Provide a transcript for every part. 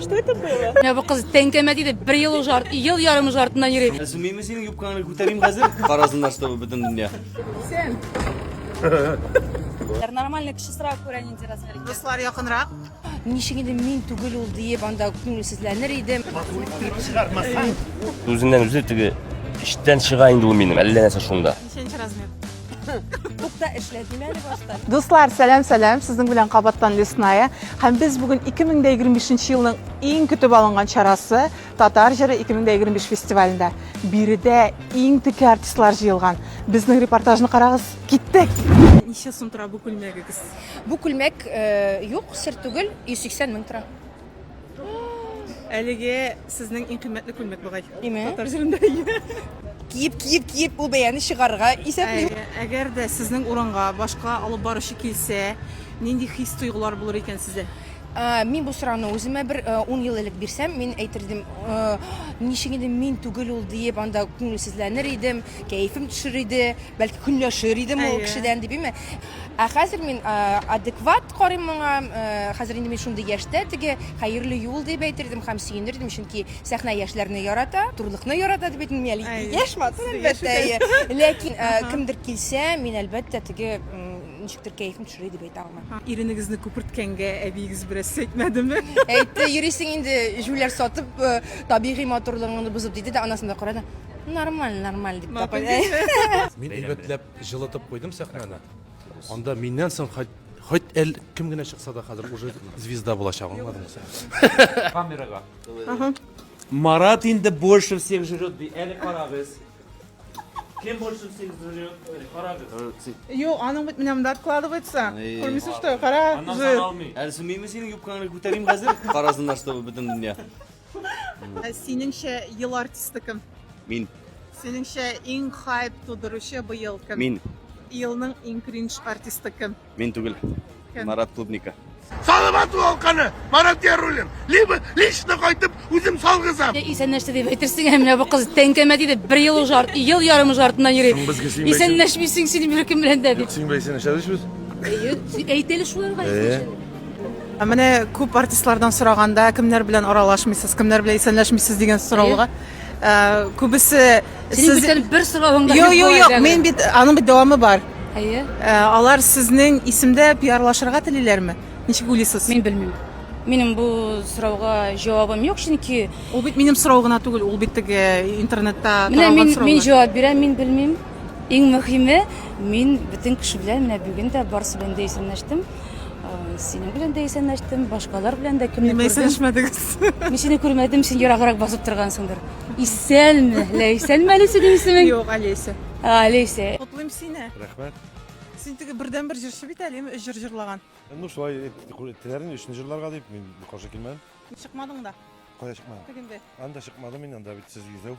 Что это было? Менә бу кыз тәңкәмә диде, бер ел уже арт, ел ярым уже артыннан йөри. Сүмейме синең юбкаңны күтәрим хәзер? Карасыннар с тобой бөтен дөнья. Сен. Нормальный кеше сразу күрә нинди размер икән. Дуслар якынрак. Ничек инде мин түгел ул диеп анда күңелсезләнер идем. Үзеннән үзе теге эчтән чыга инде ул минем, әллә нәрсә шунда. Ничәнче размер? Тукта эшлә, дим әле баштан. Дуслар, сәлам, сәлам. Сезнең белән кабаттан Лесная. Һәм без бүген 2025 елның иң көтеп алынган чарасы Татар җыры 2025 фестивалендә. Биредә иң теке артистлар җыелган. Безнең репортажны карагыз. Киттек. Ничә сум тора бу күлмәгегез? Бу күлмәк э, юк, сер түгел, 180 мең тора. Әлеге сезнең иң кыйммәтле күлмәк бугай. Име? Татар җирендә. Киеп, киеп, киеп бу бәяне чыгарырга исәплим. Әгәр дә сезнең урынга башка алып баручы килсә, нинди хис тойгылар булыр икән сездә? Ә, Мин бу сорауны үземә бер э, ун ел элек бирсәм, мин әйтердем, э, ничек инде мин түгел ул диеп, анда күңелсезләнер идем, кәефем төшер иде, бәлки көнләшер идем ул Әйе. кешедән дип, име? Ә хәзер мин э, адекват Карыйм моңа, хәзер инде мин шундый яшьтә, теге хәерле юл дип әйтер идем һәм сөенер идем, чөнки сәхнә яшьләрне ярата, матурлыкны ярата дип әйтмим мин әле, яшь матур, әлбәттә, әйе. Ләкин кемдер килсә, мин, әлбәттә, теге ничектер кәефем төшерә дип әйтә алмыйм. Иренегезне күперткәнгә әбиегез бераз сәйтмәдеме? Әйтте, йөрисең инде, җүләр сатып, табигый матурлыгыңны бозып, диде дә анасына карады, нормаль, нормаль, дип тә куйды. Мин әйбәтләп җылытып куйдым сәхнәне. Анда миннән соң хоть хоть әл кем генә чыкса да хәзер уже звезда булачак, аңладыңмы син? Камерага. Марат инде больше всех жрет ди. Әле карагыз. Кем больше всех жрет? Әле карагыз. Юк, аның бит менә монда откладывается. Эй. Күрмисең, что? Кара, Аннан жир. сан алмый. Әле сумыймы синең юбкаңны күтәрим хәзер? Карасыннар, чтобы бөтен дөнья. Синеңчә ел артисты кем? Мин. Синеңчә иң хайп тудыручы быел кем? Мин. Елның иң кринж артисты кем? Мин түгел. Кем? Марат Клубника. Салават Волканы, Марат Ярулин, либо лично кайтып үзем салгызам. Исән нәрсә дип әйтерсең, ә менә бу кыз тәңкәмә диде, бер ел уже арт, ел ярым уже артыннан йөри. Соң безгә син Исән нәрсәмисең син беркем белән дә дип. Син бәйсен эшләдешбез. Әйтеле шуларга. Менә күп артистлардан сораганда, кемнәр белән аралашмыйсыз, кемнәр белән исәнләшмисез дигән сорауга, э, күбесе Синең сез- бүтән бер соравың да Юк, юк, юк, әле. мин бит аның бит дәвамы бар. Әйе. Э, Алар сезнең исемдә пиарлашырга телиләрме? Ничек уйлыйсыз? Мин белмим. Минем бу сорауга җавабым юк, чөнки Ул бит минем сорау гына түгел, ул бит теге интернетта менә таралган мин мин сораулар. җавап бирәм, мин белмим. Иң мөһиме, мин бөтен кеше белән менә бүген дә барысы белән дә исәнләштем. Синең белән дә исәнләштем, башкалар белән дә кемне күрдем. Исәнләшмәдегез. Мин сине күрмәдем, син ераграк басып торгансыңдыр. Исәнме? Лә исәнме әле синең исемең? Юк, Олеся. А, Олеся. Котлыйм сине. Рәхмәт. Син теге бердәнбер җырчы бит әле, өч җыр җырлаган. Ну, шулай теләр инде, өчне җырларга дип, мин каршы килмәдем. Чыкмадың да. Кая чыкмадым? Тегендә. Анда чыкмадым мин, анда бит сез йөзәү.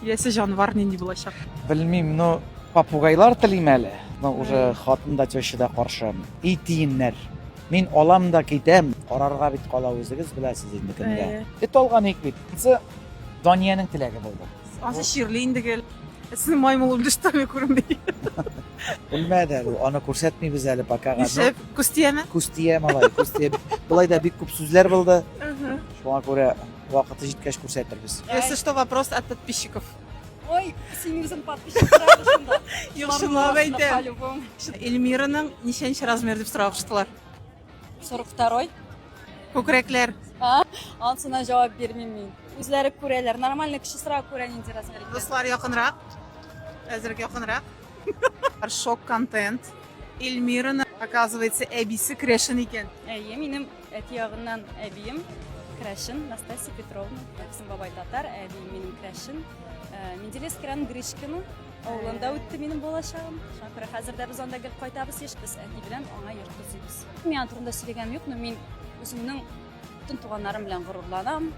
Киләсе җанвар нинди булачак? Белмим, но попугайлар телим әле. Но уже хатын да теща да каршы. И тиеннәр. Мин алам да китәм. Карарга бит кала үзегез беләсез инде кемгә. Эт алган ик бит. Сы Даниянең теләге булды. Ансы чирли инде гел. Син маймыл үлдеш тәме күренми. Белмәде әле. Аны күрсәтмибез әле пока. Ишеп, күз тияме? Күз тия малай, күз тия. Былай да бик күп сүзләр булды. Шуңа күрә вакыты җиткәч күрсәтербез. Если что, вопрос от подписчиков. Ой, синең үзең подписчиклар шунда. Юшынлап әйтәм. Эльмираның ничәнче размер дип сорап чыктылар. 42. Күкрәкләр. А? Ансына җавап бирмим мин. Үзләре күрәләр. Нормальный кешесрак күрә нинди размер икән. Дуслар якынрак. Әзерәк якынрак. Шок контент. Эльмираны, оказывается, әбисе крәшен икән. Әйе, минем Әти ягыннан әбием Крәшин Настасия Петровна, әтисем бабай татар, әбием минем Крәшин. Э, Менделес Кран Гришкина авылында үтте минем балачагым. Шуңа күрә хәзер дә без анда гел кайтабыз еш без әти белән аңа йорт төзибез. Мин турында сөйләгәнем юк, но мин үземнең бөтен туганнарым белән горурланам.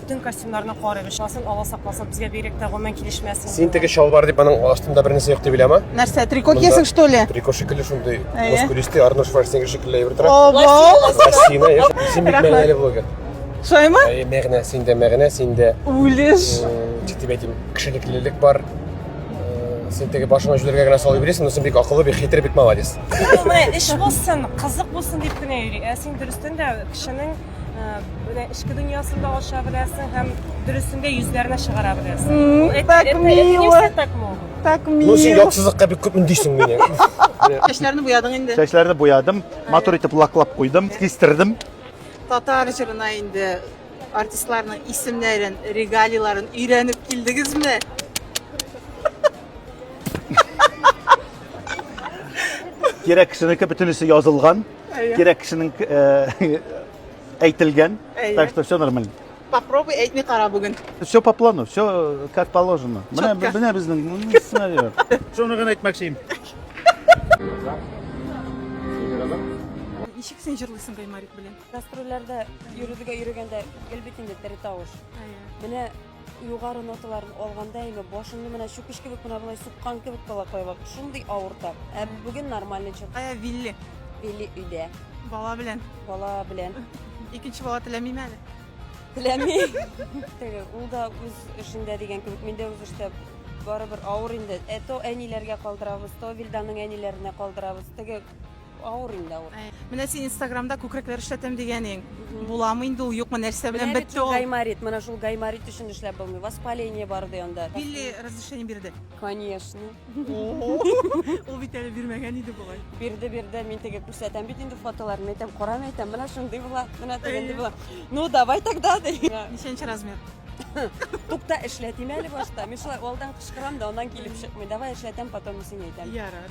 Бөтен костюмнарны карыйк, ишасын Алла сакласын, безгә бигрәк тә гомумән килешмәсен. Син теге чалбар дип аның астында бернәрсә юк дип уйлама. Нәрсә, трико Монда- киясең, что ли? Трико шикелле шундый Әйе. мускулистый Арнольд Шварценеггер шикелле әйбер тора. Ого! Лосина, я син бик Рәхмәт. мәгънәле блогер. Шулаймы? Әйе, мәгънә, синдә мәгънә, синдә Үлеш. э, ничек дип әйтим, кешелеклелек бар. Э, Син теге башыңа җүләргә генә салып йөрисең, но син бик акыллы, бик хитрый, бик молодец. Менә эш булсын, кызык булсын дип кенә йөри. Ә син дөрестән дә кешенең эчке дөньясын да ача беләсең һәм дөресен дә йөзләренә чыгара беләсең. Это, так это, мило. Это так мило. Так мило. Ну, син яксызлыкка бик күп үндисең мине. Чәчләрне буядың инде. Чәчләрне буядым, матур итеп лаклап куйдым, кистердем. Татар җырына инде артистларның исемнәрен, регалийларын өйрәнеп килдегезме? Кирәк кешенеке бөтенесе язылган. Кирәк кешенең әйтелгән, так что все нормально. Попробуй әйтми кара бүген. Все по плану, все э, как положено. Менә менә безнең сценарий. Шуны гына әйтмәкче идем. Ничек син җырлыйсың Гаймарик белән? Гастрольләрдә йөрергә йөргәндә гел бит инде тере тавыш. Менә Югары ноталарын алганда әйме башымны менә чүкеч кебек менә болай суккан кебек балакайлар. Шундый авырта. Ә бүген нормальный чык. Кая Вилли? Вилли өйдә. Бала белән. Бала белән. Икенче бала теләмим әле. Теләми. Теге ул да үз эшендә дигән кебек, мин дә үз эштә барыбер авыр инде. Ә то әниләргә калдырабыз, то Вилданның әниләренә калдырабыз. Теге Авыр инде авыр. Э, менә син инстаграмда күкрәкләр эшләтәм дигәнең. Буламы инде ул, юкмы, нәрсә белән бетте ул? Гайморит, менә шул гайморит өчен эшләп булмый. Воспаление бар ди анда. Билли разрешение бирде. Конечно. Ул бит әле бирмәгән иде болай. Бирде, бирде. Мин теге күрсәтәм бит инде фотоларын, әйтәм, карам әйтәм, менә шундый була, менә тегендый була. Ну, давай тогда. Ничәнче размер? Тукта эшләтим әле башта. Мин шулай алдан кычкырам да, аннан килеп чыкмый. Давай эшләтәм, потом исеңә әйтәм. Ярар.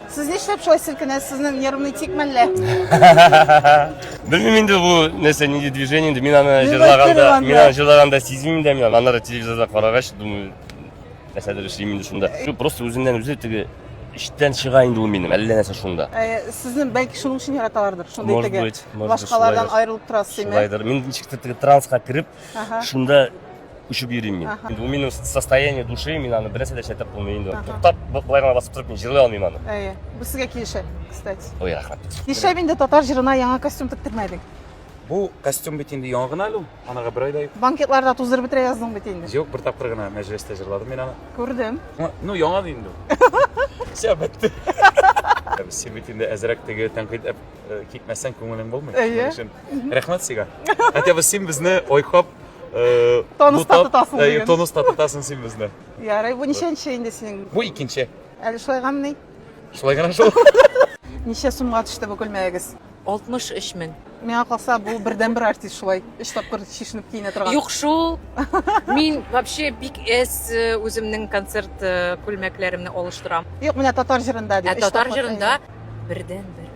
Сез нишләп шулай селкенәсез? Сезнең нервный тик мәллә? Белмим инде бу нәрсә нинди движение инде. Мин аны җырлаганда, мин аны җырлаганда сизмим дә, мин аннары телевизорда карагач, думаю, нәрсәдер эшлим инде шунда. Шу просто үзеннән үзе теге эчтән чыга инде ул минем, әллә нәрсә шунда. Э, сезне бәлки шуның өчен яраталардыр, шундый может теге. Быть, может быть, башкалардан аерылып торасыз, димәк. Шулайдыр. Мин ничектер теге транска кереп, шунда Очып йөрим мин. Инде ул минем состояние души, мин аны бернәрсә дә эшләтеп булмый инде. Туктап, былай гына басып торып мин җырлый алмыйм аны. Әйе. Бу сезгә килешә, кстати. Ой, рәхмәт. Нишләп инде татар җырына яңа костюм тектермәдең? Бу костюм бит инде яңа гына әле ул. Анага бер айда юк. Банкетларда туздырып бетерә яздың бит инде. Юк, бер тапкыр гына мәҗлестә җырладым мин аны. Күрдем. Ну, яңа да инде. Все, бетте. Син бит инде әзрәк теге тәнкыйть э, китмәсәң күңелең булмый. Әйе. Рәхмәт сиңа. Хотя бы син безне айкап Тонуста тотасың диген. Тонуста тотасың син безне. Ярый, бу ничәнче инде синең? Бу икенче. Әле шулай гамни? Шулай гына шул. Ничә сумга төште бу күлмәгегез? 63 мең. Миңа калса, бу бердән бер артист шулай. Өч тапкыр чишенеп киенә торган. Юк шул. Мин вообще бик эс э, үземнең концерт э, күлмәкләремне алыштырам. Юк, менә татар җырында дип. Ә татар җырында Бердәнбер.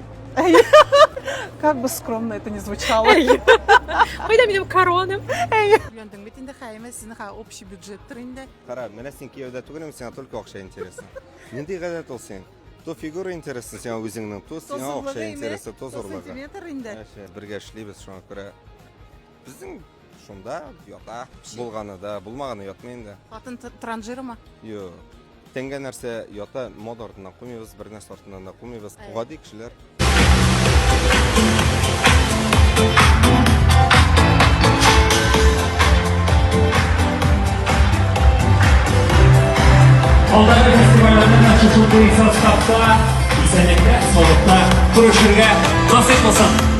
Как бы скромно это не звучало. Кайда минем короным? Өйләндең бит инде Хәймә, синең ха общий бюджеттыр инде. Кара, менә син кияүдә түгелме, сиңа только акча интересно. Нинди гадәт ул син? То фигура интересно сиңа үзеңнең, то сиңа акча интересно, то зурлыгы. Сантиметр инде. Бергә эшлибез шуңа күрә Безнең шунда ята. Булганы да, булмаганы ятмый инде. Хатын транжирымы? Юк. Тәнгә нәрсә ята, мода артыннан кумыйбыз, бер нәрсә артыннан да кумыйбыз. Гади кешеләр. Алдагы фестивальләрнең ачышы буенча штабта исәнлектә, саулыкта күрешергә насыйп булсын.